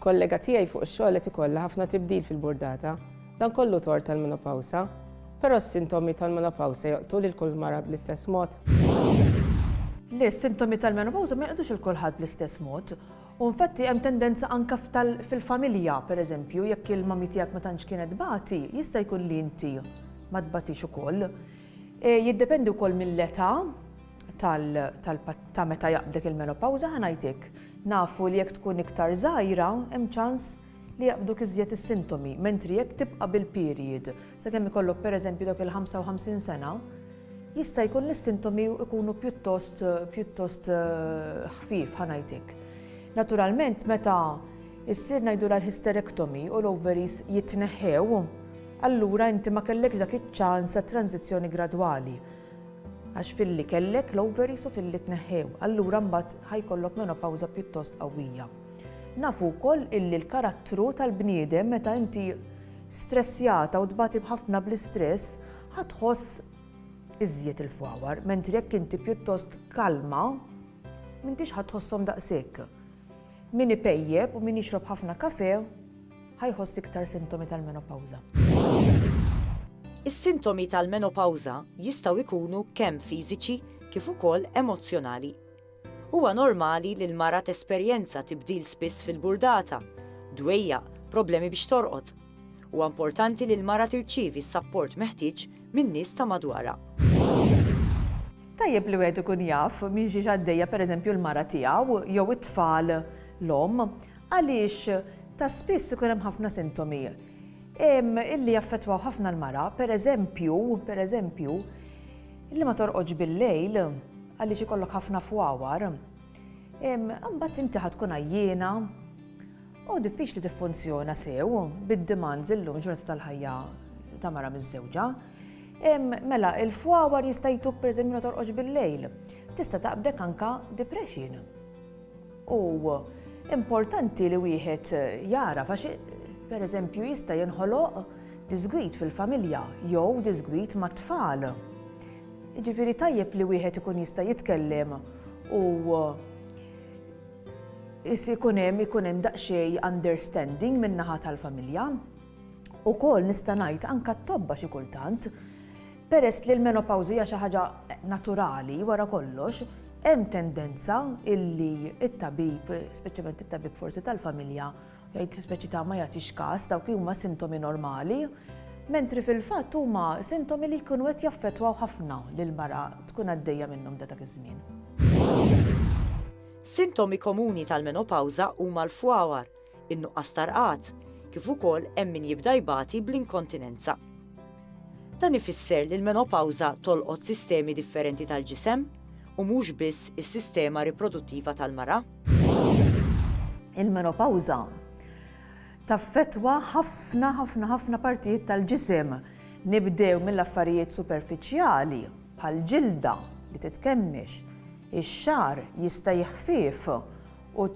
Kollega tiegħi fuq ix-xogħol qed ikollha ħafna tibdil fil-burdata. Dan kollu tort tal-menopawsa. Però s-sintomi tal-menopawsa joqtgħu lil kull mara bl-istess mod? Le, s-sintomi tal-menopawsa ma joqtgħux lil kulħadd bl-istess mod. U infatti hemm tendenza anke fil-familja, pereżempju, jekk il-mommy tiegħek ma tantx kienet tbati, jista' jkun li inti ma tbatix ukoll. Jiddependi wkoll mill-età, ta' meta jaqbdek il-menopawża ħa ngħidlek. Nafu li jekk tkun iktar żgħira hemm ċans li jaqbduk iżjed is-sintomi, mentri jekk tibqa' bil-period sakemm ikollok pereżempju dawk il-55 sena, jista' jkun li s-sintomi jkunu pjuttost pjuttost ħfief ħa ngħidlek. Naturalment meta ssir ngħidulha l-hysterectomy u l-ovaries jitneħħew, allura inti ma kellekx dak iċ-ċans għat-tranżizzjoni gradwali. Għax filli kellek l-ovaries u filli tneħħew, allura mbagħad ħa jkollok menopawża pjuttost qawwija. Nafu wkoll illi l-karattru tal-bniedem meta inti stressjata u tbati b'ħafna bl-istress, ħa tħoss iżjed il-fwawar, mentri jekk inti pjuttost kalma, m'intix ħa tħossom daqshekk. Min ipejjeb u min jixrob ħafna kafe, Ħa jħoss iktar sintomi tal-menopawża. Is-sintomi tal-menopawża jistgħu jkunu kemm fiżiċi kif ukoll emozzjonali. Huwa normali li l-mara tesperjenza tibdil spiss fil-burdata, dwejjaq, problemi biex torqod. Huwa importanti li l-mara tirċievi s-sapport meħtieġ min-nies ta' madwarha. Tajjeb li wieħed ikun jaf minn xiex għaddejja pereżempju l-mara tiegħu jew it-tfal l-omm Għaliex ta' spiss ikun hemm ħafna sintomi illi jaffettwaw ħafna l-mara, per eżempju, per eżempju, illi ma torqodx bil-lejl għaliex ikollok ħafna fwawar, imbagħad inti ħa tkun għajjiena u diffiċli tiffunzjona sew bid-demands illum il-ġurnata tal-ħajja ta' mara miżżewġa. Mela, il-fwawar jista' jtuk per eżempju ma torqodx bil-lejl. Tista' taqbdek anka depression. U importanti li wieħed jagħraf għax pereżempju jista' jinħoloq disgwid fil-familja jew disgwid mat-tfal. Jiġifieri tajjeb li wieħed ikun jista' jitkellem u ikun hemm ikun hemm daqsxejn understanding min-naħa tal-familja. Ukoll nista' ngħid anke t-tobba xi kultant, peress li l-menopawża hija xi ħaġa naturali wara kollox, hemm tendenza illi t-tabib, speċjalment it-tabib forsi tal-familja, jgħid speċi ta' ma jagħtix każ, dawk li huma sintomi normali, mentri fil-fatt huma sintomi li jkunu qed jaffettwaw ħafna lill-mara tkun għaddejja minnhom ta' dak iż-żmien. Sintomi komuni tal-menopawża huma l-fwawar, in-nuqqas ta' rqad, kif ukoll hemm min jibda jbati bl-inkontinenza. Dan ifisser li l-menopawża tolqot sistemi differenti tal-ġisem u mhux biss is-sistema riproduttiva tal-mara. Il-menopawża taffettwa ħafna ħafna ħafna partijiet tal-ġisem, nibdew mill-affarijiet superfiċjali bħall-ġilda li titkemmix, ix-xagħar jista' jiħfief U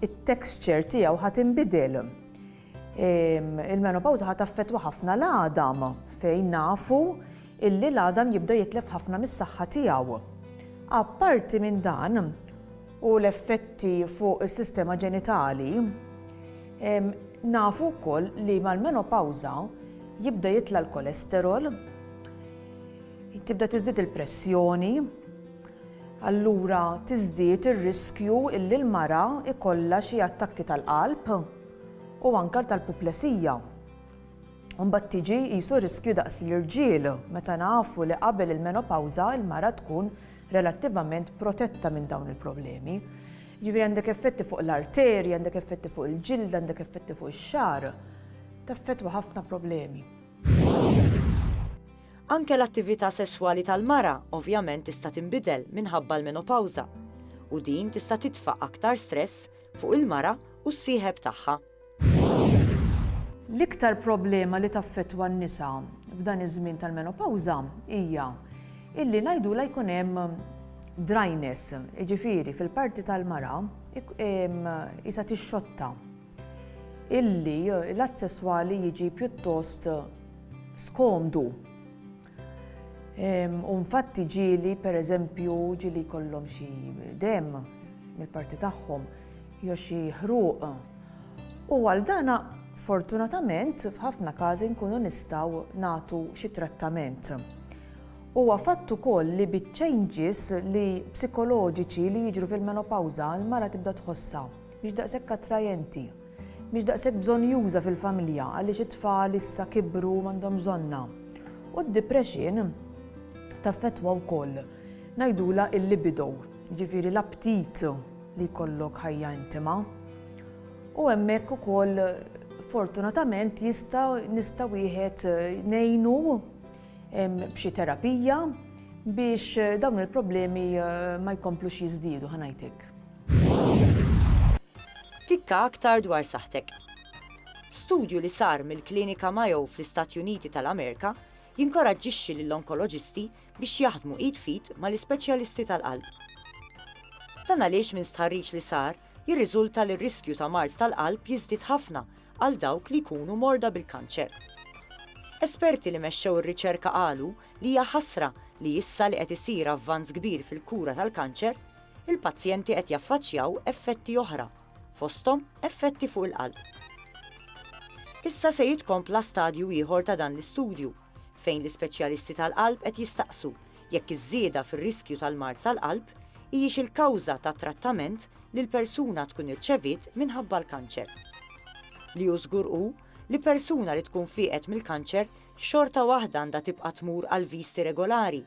t-texture tiegħu ħa tinbidel. Il-menopawża ħa taffettwa ħafna l-għadam fejn nafu illi l-għadam jibda jitlef ħafna mis-saħħa tiegħu. Apparti minn dan u l-effetti fuq is-sistema ġenitali, nafu wkoll li mal-menopawża jibda jitla' l-kolesterol, tibda tiżdied il-pressjoni, allura tiżdied ir-riskju illi l-mara jkollha xi attakki tal-qalb u anke tal-puplesija. U mbagħad tiġi qisu riskju daqs l-irġiel, meta nafu li qabel il-menopawża l-mara tkun relattivament protetta minn dawn il-problemi. Jiġifieri għandek effetti fuq l-arterji, għandek effetti fuq il-ġild, għandek effetti fuq ix-xagħar, taffettwa ħafna problemi. Anke l-attività sesswali tal-mara ovvjament tista' tinbidel minħabba l-menopawża, u din tista' titfa' aktar stress fuq il-mara u s-sieħeb tagħha. L-iktar problema li taffettwa n-nisa f'dan iż-żmien tal-menopawża hija illi ngħidulha jkun hemm dryness, jiġifieri fil-parti tal-mara qisha tixxotta. illi l-att sesswali jiġi pjuttost skomdu. Ehm, u infatti ġieli, per eżempju, ġieli jkollhom xi dem mill-parti tagħhom, jew xi ħruq. U għal dana, fortunatament, f'ħafna każi nkunu nistgħu nagħtu xi trattament. Huwa fatt ukoll li bit-changes li psikoloġiċi li jiġru fil-menopawża l-mara tibda tħossha. Mhix daqshekk attrajenti. Mhix daqshekk bżonnjuża fil-familja għaliex it-tfal issa kibru u m'għandhomx bżonnha. U d-depression taffettwa wkoll, ngħidulha il-libido, jiġifieri l-aptit li jkollok ħajja intima. U hemmhekk ukoll fortunatament jista' nista' wieħed ngħinu b'xi terapija biex dawn il-problemi ma jkomplux jiżdiedu ħa ngħidlek. Tikka aktar dwar saħħtek. Studju li sar mill-Klinika Mayo fl-Istati Uniti tal-Amerika jinkoraġġixxi lill-onkoloġisti biex jaħdmu id f'id mal-ispeċjalisti tal-qalb. Dan għaliex minn stħarriġ li sar jirriżulta li r-riskju ta' mard tal-qalb jiżdied ħafna għal dawk li jkunu morda bil-kanċer. Esperti li mexxew ir-riċerka qalu li hija ħasra li issa li qed isir avvanz kbir fil-kura tal-kanċer, il-pazjenti qed jaffaċċjaw effetti oħra, fosthom effetti fuq il-qalb. Issa se jitkompla stadju ieħor ta' dan l-istudju, fejn l-ispeċjalisti tal-qalb qed jistaqsu jekk iż-żieda fir-riskju tal-mard tal-qalb hijiex il-kawża tat-trattament li l-persuna tkun irċeviet minħabba l-kanċer. Li hu żgur hu li persuna li tkun fieqet mill-kanċer xorta waħda għandha tibqa' tmur għal viżti regolari